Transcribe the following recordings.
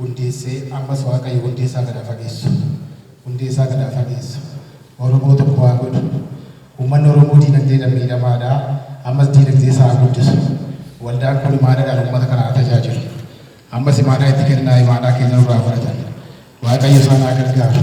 hundeessee ammas waaqayyo hundee isaa gad haa fageessu hundee isaa gad haa fageessu oromoo tokko haa godhu ummanni oromoo diinagdeedhan miidhamaadha ammas diinagdee isaa haa guddisu waldaan kun imaanadhan ummata kana haa tajaajilu ammas imaanaa itti kennaa imaanaa keenya nurraa fudhatan waaqayyo isaan haa gargaaru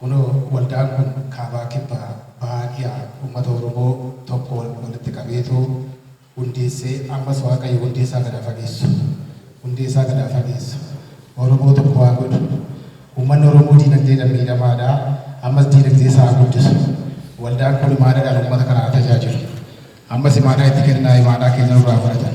Kunoo waldaan kun kaabaa kibba bahaa dhiha ummata Oromoo tokkoon walitti qabeetu hundeessee ammas Waaqayyo hundee isaa gad haa fageessu hundee isaa gad haa fageessu Oromoo tokko haa godhu ummanni Oromoo diinagdeedhan miidhamaadha ammas diinagdee isaa haa guddisu waldaan kun imaanaadhaan ummata kana haa tajaajilu ammas imaanaa itti kennaa imaanaa keenya nurraa fudhatan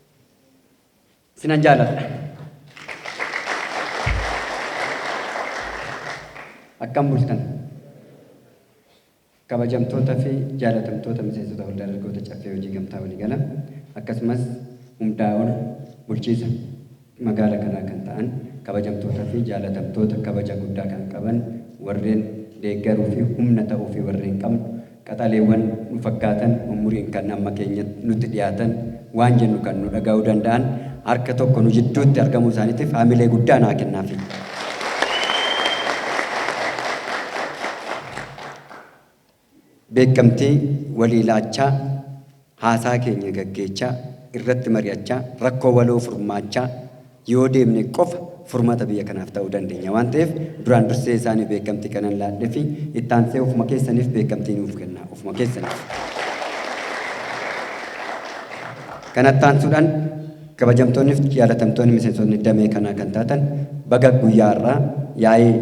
Sinan jaaladha. Akkam bultan? Kabajamtoota fi jaalatamtoota miseensota waldaa dargaggoota caffee hojii gamtaa waliigala akkasumas hundaa ol bulchiisa magaala kanaa kan ta'an kabajamtoota fi jaalatamtoota kabaja guddaa kan qaban warreen deeggaruu fi humna ta'uu fi warreen qabnu Qaxaleewwan nu fakkaatan umuriin kan amma keenya nutti dhiyaatan, waan jennu kan nu dhaga'uu danda'an harka tokko nu jidduutti argamuu isaaniitiif hamilee guddaa naa kennaafii. Beekkamtii walii laachaa. Haasaa keenya gaggeechaa, irratti mari'achaa, rakkoo waloo furmaachaa yoo deemne qofa furmata biyya kanaaf ta'uu dandenya waan ta'eef duraan dursee isaaniif beekamtii kanan laadhefi itti aansee ofuma keessaniif beekamtii nuuf kennaa ofuma keessaniif. Kanatti aansuudhan Kabajamtoonnif jaalatamtoonni miseensotni damee kanaa kan taatan baga guyyaa har'aa yaa'ii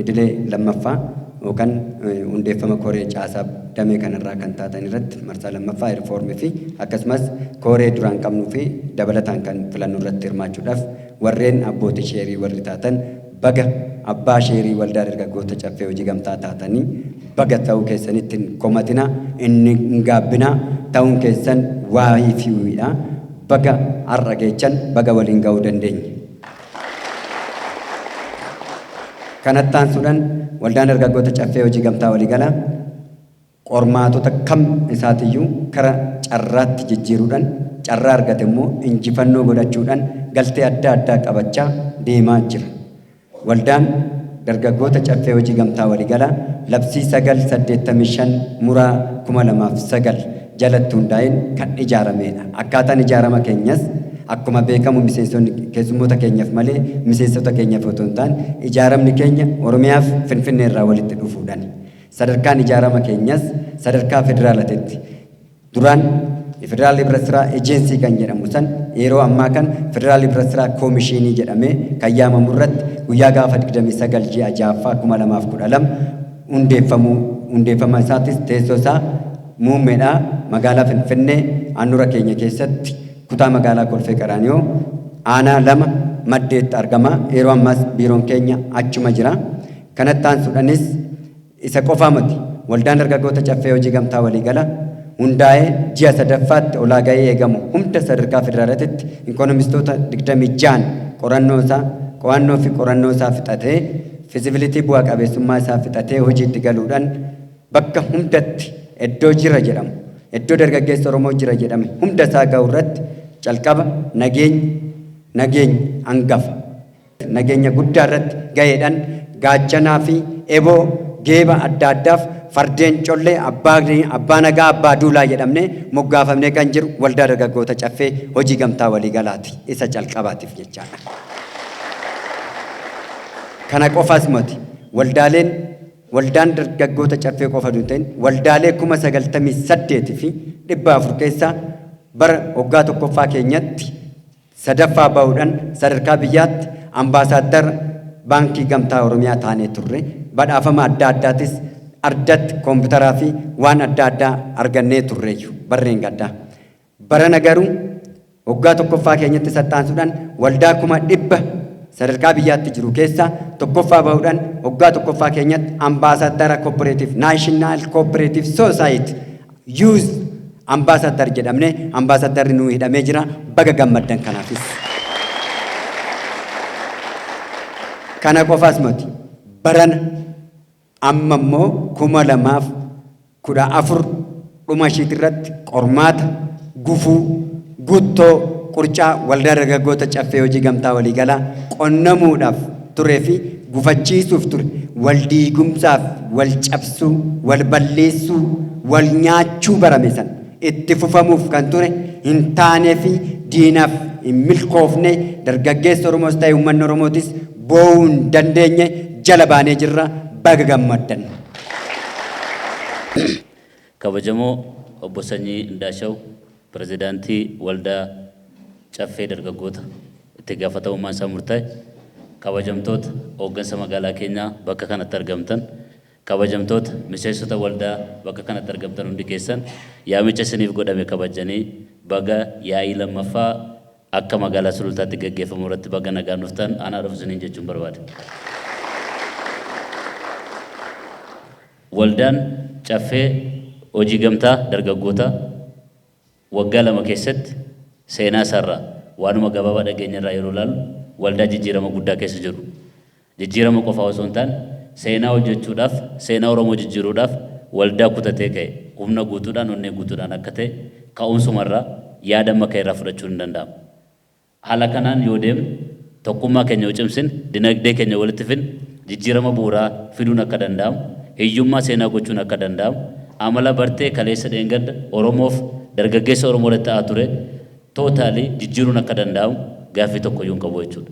idilee 2ffaa yookan hundeeffama koree caasaa damee kanarraa kan taatan irratti marsaa 2ffaa reform fi akkasumas kooree duraan qabnuu fi dabalataan kan filannu irratti hirmaachuudhaf warreen abbootii sheerii warri taatan Baga abbaa sheerii waldaa dargaggoota caffee hojii gamtaa taatanii baga ta'uu keessanitti hin komatinaa hin hin gaabbinaa ta'uun keessan waayii fi wiidha baga har'a geechan baga waliin ga'uu dandeenye. Kanattaansuudhan waldaan dargaggoota caffee hojii gamtaa waliigalaa. Qormaatota kam isaatiyyuu kara carraatti jijjiiruudhan carraa argate immoo injifannoo godhachuudhan galtee adda addaa qabachaa deemaa jira. Waldaan Dargaggoota Caffee Hojii Gamtaa Waligalaa Labsii 9 85 Muraa 2009 jalatti hundaa'een kan ijaarameedha. Akkaataan ijaarama keenyas akkuma beekamu miseensonni keessummoota keenyaf malee miseensota keenyaf otoo hin taane ijaaramni keenya Oromiyaaf Finfinnee irraa walitti dhufuudhani. Sadarkaan ijaarama keenyas sadarkaa federaalatitti duraan Federal Hibrat Sira Agency kan jedhamu san yeroo ammaa kan Federal Hibrat Sira Koomishiinii jedhamee kan yaamamu irratti guyyaa gaafa 29 ji'a 6ffaa 2012 hundeeffamuu hundeeffama isaatis teessoo isaa muummeedhaa magaalaa Finfinnee aanura keenya keessatti kutaa magaalaa Kolfee Qaraaniyoo aanaa lama maddeetti argama yeroo ammaas biiroon keenya achuma jira. Kanatti aansuudhanis isa qofaa moti Waldaan Dargaggoota Caffee Hojii Gamtaa Waliigala hundaa'ee ji'a 3ffaatti olaaga'ee eegamu hunda sadarkaa federaalatitti inkonomistoota 26n qorannoo isaa, qo'annoo fi qorannoo isaa fixatee, feasibility bu'a qabeessummaa isaa fixatee hojiitti galuudhan bakka hundatti eddoo jira jedhamu, eddoo dargaggeessi Oromoo jira jedhame hunda isaa ga'u irratti calqaba nageenyi, nageenyi angafa. nageenya guddaa irratti gaheedhan gaachanaa fi eboo geeba adda addaaf fardeen collee abbaa nagaa abbaa duulaa jedhamnee moggaafamnee kan jiru waldaa dargaggoota caffee hojii gamtaa waliigalaati isa calqabaatiif jechaadha. Kana qofaas moti waldaaleen waldaan dargaggoota caffee qofa hin ta'in waldaalee kuma sagaltamii saddeet fi dhibba afur keessaa bara waggaa tokkoffaa keenyatti 3ffaa ba'uudhan sadarkaa biyyaatti Ambaasaaddara Baankii Gamtaa Oromiyaa taanee turre. Badhaafama adda addaatis ardatti koompitaraa fi waan adda addaa argannee turreeyyu barreen gaddaa. Barana garuu waggaa 1ffaa keenyatti sattaansuudhan waldaa kuma dhibba sadarkaa biyyaatti jiru keessaa 1ffaa ba'uudhan waggaa 1ffaa keenyatti Ambaasaaddara Kooppereetiif Naashinaal Kooppereetiif Soosaayiti Use Ambassador jedhamne ambassadorri nuu hidhamee jira baga gammaddan kanaafis. Kana qofaas moti barana amma immoo kuma lamaaf kudha afur dhuma ishiitirratti qormaata Gufuu, Guttoo, Qurcaa Waldaa Dargaggoota Caffee Hojii Gamtaa Waliigalaa qonnamuudhaaf turee fi gufachiisuuf ture wal diigumsaa fi wal cabsuu, wal balleessuu, wal nyaachuu barame sana itti fufamuuf kan ture hin taanee fi diinaaf hin milkoofne dargaggeessi Oromoos ta'e uummanni Oromootis boo'uu hin dandeenye jala baanee jirra baga gammaddan. Kabajamoo Obbo Sanyii Indaashaw Pirezidaantii Waldaa Caffee Dargaggoota Itti Gaafatamummaan Isaa Murtaa'e, Kabajamtoota Hooggansa Magaalaa Keenyaa Bakka Kanatti Argamtan, Kabajamtoota Miseensota Waldaa Bakka Kanatti Argamtan Hundi Keessan Yaamicha Isiniif Godhame Kabajjanii Baga Yaa'ii 2ffaa Akka Magaalaa Sulultaatti Gaggeeffamu Irratti Baga Nagaan Dhuftan Anaa Dhufu Isiniin Jechuun Barbaada. Waldaan Caffee Hojii Gamtaa Dargaggootaa waggaa lama keessatti seenaa isaa irraa waanuma gabaabaa dhageenye irraa yeroo ilaallu waldaa jijjiirama guddaa keessa jiru jijjiirama qofaa osoo hin taane seenaa hojjechuudhaaf seenaa Oromoo jijjiiruudhaaf waldaa kutatee ka'e humna guutuudhaan onnee guutuudhaan akka ta'e ka'umsuma irraa yaada amma ka'e irraa fudhachuun ni danda'ama. Haala kanaan yoo deemne, tokkummaa keenya yoo cimsine, dinagdee keenya walitti fidne, jijjiirama bu'uuraa fiduun akka danda'amu, hiyyummaa seenaa gochuun akka danda'amu, amala bartee kaleessa dheengadda Oromoof dargaggeessa Oromoo irratti ta'aa ture totally jijjiiruun akka danda'amu gaaffii tokkoyyuu hin qabu jechuudha.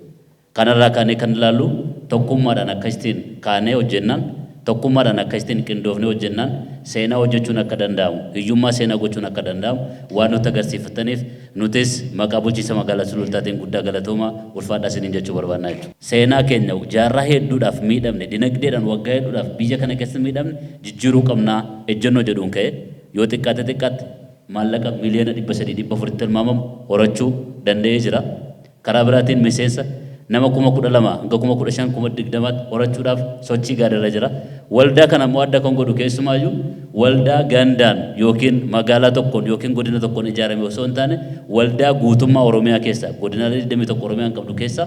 Kanarraa kaanee kan ilaallu tokkummaadhaan akkasittiin kaanee hojjennaan, tokkummaadhaan akkasittiin qindoofnee hojjennaan seenaa hojjechuun akka danda'amu, hiyyummaa seenaa gochuun akka danda'amu waan nutti agarsiifattaniif Nutis maqaa bulchiinsa magaalaa Sulultaatiin guddaa galatoomaa, ulfaadhaa isiniin jechuu barbaadna jechuudha. Seenaa keenya jaarraa hedduudhaaf miidhamne, dinagdeedhaan waggaa hedduudhaaf biyya kana keessatti miidhamne jijjiiruu qabna ejjennoo jedhuun ka'ee yoo xiqqaate xiqqaatti maallaqa miliyoona 300, 400tti tilmaamamu horachuu danda'ee jira. Karaa biraatiin miseensa nama kuma 12 hanga kuma 15, kuma 20tti horachuudhaaf sochii gaariirra jira. Waldaa kana immoo adda kan godhu keessumaayyuu waldaa gandaan ykn magaalaa tokkoon ykn godina tokkoon ijaarame osoo hin taane waldaa guutummaa Oromiyaa keessaa godinaalee 21 Oromiyaan qabdu keessaa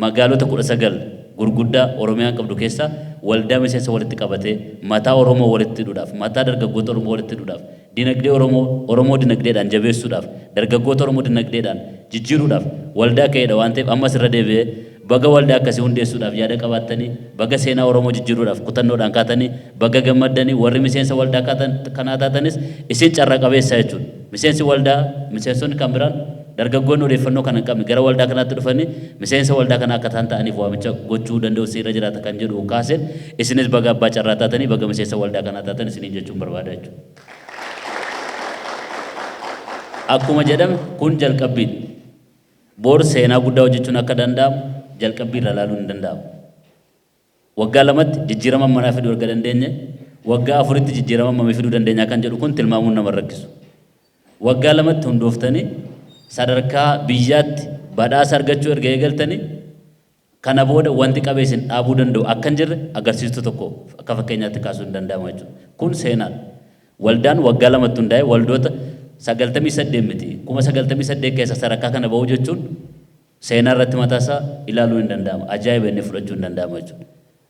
magaalota 19 gurguddaa Oromiyaan qabdu keessaa waldaa miseensa walitti qabatee mataa Oromoo walitti hidhuudhaaf, mataa dargaggoota Oromoo walitti hidhuudhaaf, Dinagdee Oromoo Oromoo dinagdeedhaan jabeessuudhaaf, dargaggoota Oromoo dinagdeedhaan jijjiiruudhaaf waldaa ka'eedha waan ta'eef ammas irra deebi'ee baga waldaa akkasii hundeessuudhaaf yaada qabaattanii, baga seenaa Oromoo jijjiiruudhaaf kutannoodhaan kaatanii, baga gammaddanii, warri miseensa waldaa kaatan kanaa taatanis isin carra qabeessa jechuudha. Miseensi waldaa, miseensonni kan biraan, dargaggoonni odeeffannoo kana hin qabne gara waldaa kanaatti dhufanii miseensa waldaa kanaa akka ta'an ta'aniif waamicha gochuu danda'uun isin irra jiraata kan jedhu kaaseen isinis baga abbaa carraa taatanii, baga miseensa waldaa kanaa taatan isiniin jechuun barbaada jechuudha. Akkuma jedhame kun jalqabbiidha. Bor seenaa guddaa hojjechuun akka danda'amu jalqabbii irraa ilaaluun hin danda'amu. Waggaa lamatti jijjiirama ammanaa fiduu erga dandeenye waggaa afuritti jijjiirama ammamii fiduu dandeenya kan jedhu kun tilmaamuun nama hin rakkisu. Waggaa lamatti hundooftanii sadarkaa biyyaatti badhaasa argachuu erga eegaltanii Kana booda wanti qabee isin dhaabuu danda'u akka hin jirre agarsiistuu tokko akka fakkeenyaatti kaasuun ni danda'ama jechuudha. Kun seenaadha. Waldaan waggaa lamatti hundaa'ee waldoota 98 miti, 98,000 keessaa sadarkaa kana ba'uu jechuun seenaa irratti mataa isaa ilaaluun ni danda'ama. Ajaa'iba jennee fudhachuun ni danda'ama jechuudha.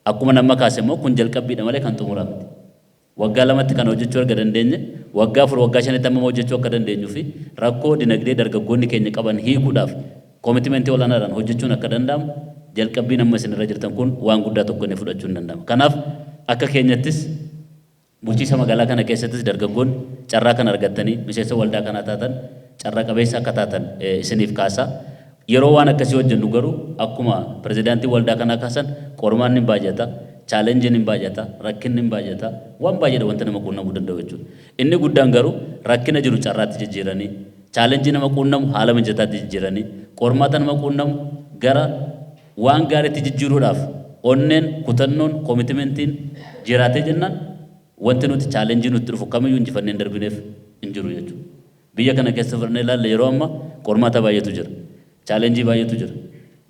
Akkuman amma kaase immoo kun jalqabbiidha malee kan xumuraa miti. waggaa lamatti kana hojjechuu erga dandeenye, waggaa afur, waggaa shanitti hammam hojjechuu akka dandeenyu fi rakkoo dinagdee dargaggoonni keenya qaban hiikuudhaaf commitment ol'aanaadhaan hojjechuun akka danda'amu jalqabbiin amma isin irra jirtan kun waan guddaa tokko inni fudhachuun danda'ama. Kanaaf akka keenyattis bulchiisa magaalaa kana keessattis dargaggoonni carraa kana argattanii miseensa waldaa kanaa taatan carra qabeessa akka taatan isiniif kaasa. Yeroo waan akkasii hojjennu garuu akkuma pirezidaantiin waldaa kanaa kaasan qormaanni ni baay'ata, challenge ni baay'ata, rakkinni ni baay'ata, waan baay'eedha wanti nama quunnamuu danda'u jechuudha. Inni guddaan garuu rakkina jiru carraatti jijjiiranii, challenge nama quunnamu haala mijataatti jijjiiranii, qormaata nama quunnamu gara waan gaariitti jijjiiruudhaaf onneen, kutannoon, commitment'n jiraatee jennaan wanti nuti challenge nutti dhufu kamiyyuu injifannee hin darbineef hin jiru jechuudha. Biyya kana keessa fudhannee ilaalle yeroo amma qormaata baay'eetu jira. Challenge baay'eetu jira.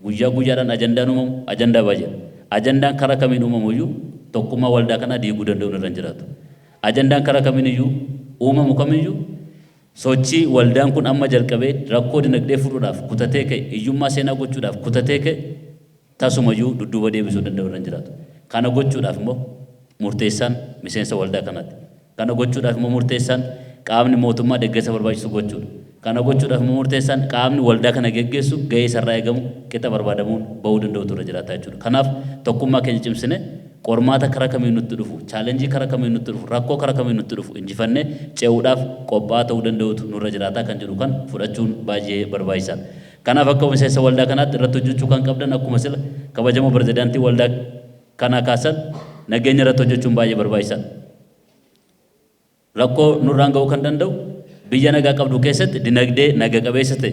Guyyaa guyyaadhaan ajandaan uumamu ajandaa baay'eedha. Ajandaan karaa kamiin uumamu iyyuu tokkummaa waldaa kanaa diiguu danda'uun irra hin jiraatu. Ajandaan karaa kamiin iyyuu uumamu kam iyyuu sochii waldaan kun amma jalqabee rakkoo dinagdee furuudhaaf kutatee ka'e, hiyyummaa seenaa gochuudhaaf kutatee ka'e, Tasumayyuu dudduuba deebisuu danda'u irra hin jiraatu. Kana gochuudhaaf immoo murteessaan miseensa waldaa kanaati. Kana gochuudhaaf immoo murteessaan qaamni mootummaa deggersa barbaachisu gochuudha. Kana gochuudhaaf immoo murteessaan qaamni waldaa kana geggeessu gahee isarraa eegamu qixa barbaadamuun ba'uu danda'utu irra jiraata jechuudha. Kanaaf tokkummaa keenya cimsinee qormaata karaa kamiin nutti dhufu, challenge karaa kamiin nutti dhufu, rakkoo karaa kamiin nutti dhufu injifannee ce'uudhaaf qophaa'aa ta'uu danda'uutu nurra jiraata kan jedhu kan fudhachuun baay'ee barbaachisaadha. Kanaaf akka miseensa waldaa kanaatti irratti hojjechuu kan qabdan akkuma sila kabajamoo pirezidaantiin waldaa kanaa kaasan nageenya irratti hojjechuun baay'ee barbaachisaadha. Rakkoo nurraan ga'uu kan danda'u biyya nagaa qabdu keessatti dinagdee naga qabeessa ta'e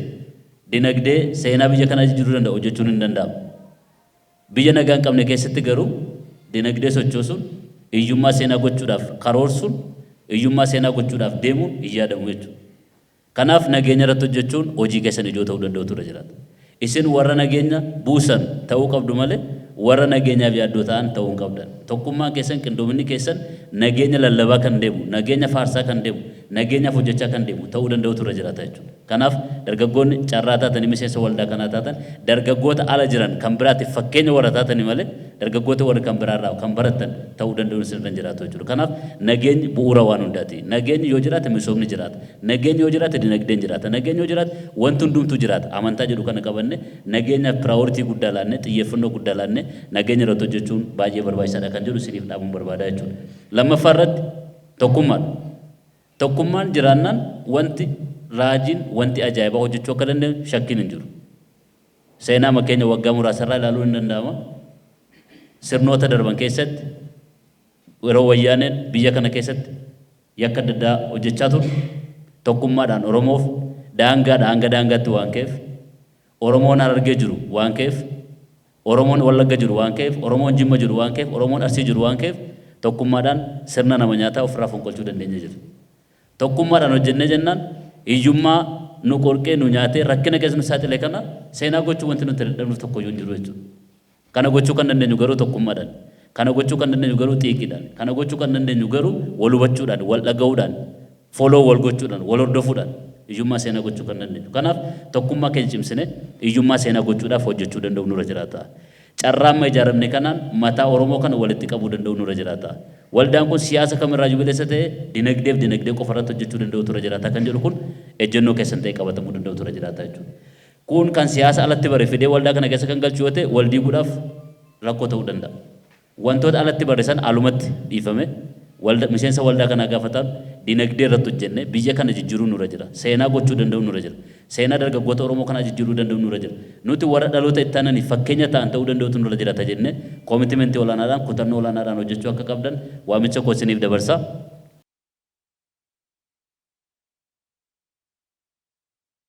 dinagdee seenaa biyya kanaa jijjiiruu danda'u hojjechuun hin danda'amu. Biyya nagaa hin qabne keessatti garuu dinagdee sochoosuun hiyyummaa seenaa gochuudhaaf karoorsuun hiyyummaa seenaa gochuudhaaf deemuun hin yaadamu jechuudha. Kanaaf nageenya irratti hojjechuun hojii keessan ijoo ta'uu danda'utu irra jiraata. Isin warra nageenya buusan ta'uu qabdu malee warra nageenyaaf yaaddoo ta'an ta'uu hin qabdan. Tokkummaan keessan, qindoominni keessan nageenya lallabaa kan deemu, nageenya faarsaa kan deemu, nageenyaaf hojjechaa kan deemu ta'uu danda'utu irra jiraata jechuudha. Kanaaf dargaggoonni carraa taatanii miseensa waldaa kanaa taatan dargaggoota ala jiran kan biraatiif fakkeenya warra taatanii malee dargaggoota warri kan biraa irraa kan barattan ta'uu danda'uun isin irra hin jiraatu jechuudha. Kanaaf nageenyi bu'uura waan hundaati. Nageenyi yoo jiraate misoomni jiraata. Nageenyi yoo jiraate dinagdeen jiraata. Nageenyi yoo jiraate wanti hundumtuu jiraata. Amantaa jedhu kana qabannee nageenyaaf piraayoritii guddaa laannee, xiyyeeffannoo guddaa laannee nageenya irratti hojjechuun baay'ee barbaachisaadha kan jedhu isiniif dhaamuun barbaada jechuudha. Lammaffaa irratti tokkummaadha. Tokkummaan jiraannaan wanti raajiin, wanti ajaa'ibaa hojjechuu akka dandeenyu shakkiin hin jiru. Seenaama keenya waggaa muraasa irraa ilaaluun ni danda'ama. Sirnoota darban keessatti yeroo Wayyaaneen biyya kana keessatti Yakka adda addaa hojjechaa ture. Tokkummaadhaan Oromoof daangaadhaa hanga daangaatti waan ka'eef, Oromoon Harargee jiru waan ka'eef, Oromoon Wallagga jiru waan ka'eef, Oromoon Jimma jiru waan ka'eef, Oromoon Arsii jiru waan ka'eef tokkummaadhaan sirna nama nyaataa ofirraa fonqolchuu dandeenyee jirra. Tokkummaadhaan hojjennee jennaan hiyyummaa nu qorqee, nu nyaatee, rakkina keessa nu saaxile kana seenaa gochuuf wanti nuti dadhabnuuf tokkoyyuu hin jiru jechuudha. Kana gochuu kan dandeenyu garuu tokkummaadhaan. Kana gochuu kan dandeenyu garuu xiiqiidhaan. Kana gochuu kan dandeenyu garuu wal hubachuudhaan, wal dhaga'uudhaan, follow wal gochuudhaan, wal hordofuudhaan hiyyummaa seenaa gochuu kan dandeenyu. Kanaaf tokkummaa keenya cimsinee hiyyummaa seenaa gochuudhaaf hojjechuu danda'uun nurra jiraata. Carraa amma ijaaramne kanaan mataa Oromoo kana walitti qabuu danda'uun nurra jiraata. Waldaan kun siyaasa kam irraayyuu bilisa ta'ee dinagdee fi dinagdee qofa irratti hojjechuu danda'uutu irra jiraata kan jedhu kun ejjennoo keessan ta'ee qabatamuu danda'uutu irra jiraata jechuudha. Kun kan siyaasa alatti bare fidee waldaa kana keessa kan galchu yoo ta'e wal diiguudhaaf rakkoo ta'uu danda'a. Wantoota alatti barre sana alumatti dhiifamee walda miseensa waldaa kanaa gaafa taanu dinagdee irratti hojjennee biyya kana jijjiiruun nurra jira. Seenaa gochuu danda'uun nurra jira. Seenaa dargaggoota Oromoo kanaa jijjiiruu danda'uun nurra jira. Nuti warra dhaloota itti aananiif fakkeenya ta'an ta'uu danda'uutu nurra jiraata jennee koomitimentii olaanaadhaan, kutannoo olaanaadhaan hojjechuu akka qabdan waamicha koo isiniif dabarsa.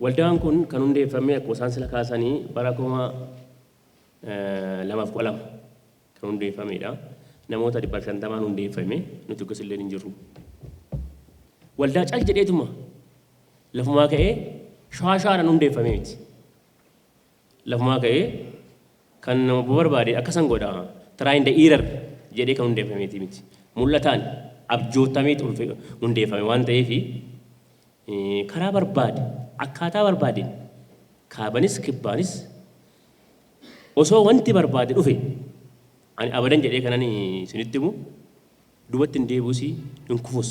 Waldaan kun kan hundeeffame akkuma isaan sila kaasani bara 2012 kan hundeeffameedha. Namoota dhibbaaf shantamaan hundeeffame nuti akkas illee hin jirru. Waldaa cal jedheetuma lafumaa ka'ee shaashaadhaan hundeeffame miti. Lafumaa ka'ee kan nama barbaade akkasan godha, try and error, jedhee kan hundeeffameetii miti. Mul'ataan, abjootameet hundeeffame waan ta'eef karaa barbaade, akkaataa barbaadeen kaabanis kibbaanis osoo wanti barbaade dhufe ani abadan jedhee kanan isinitti himu duubatti hin deebi'us hin kufus.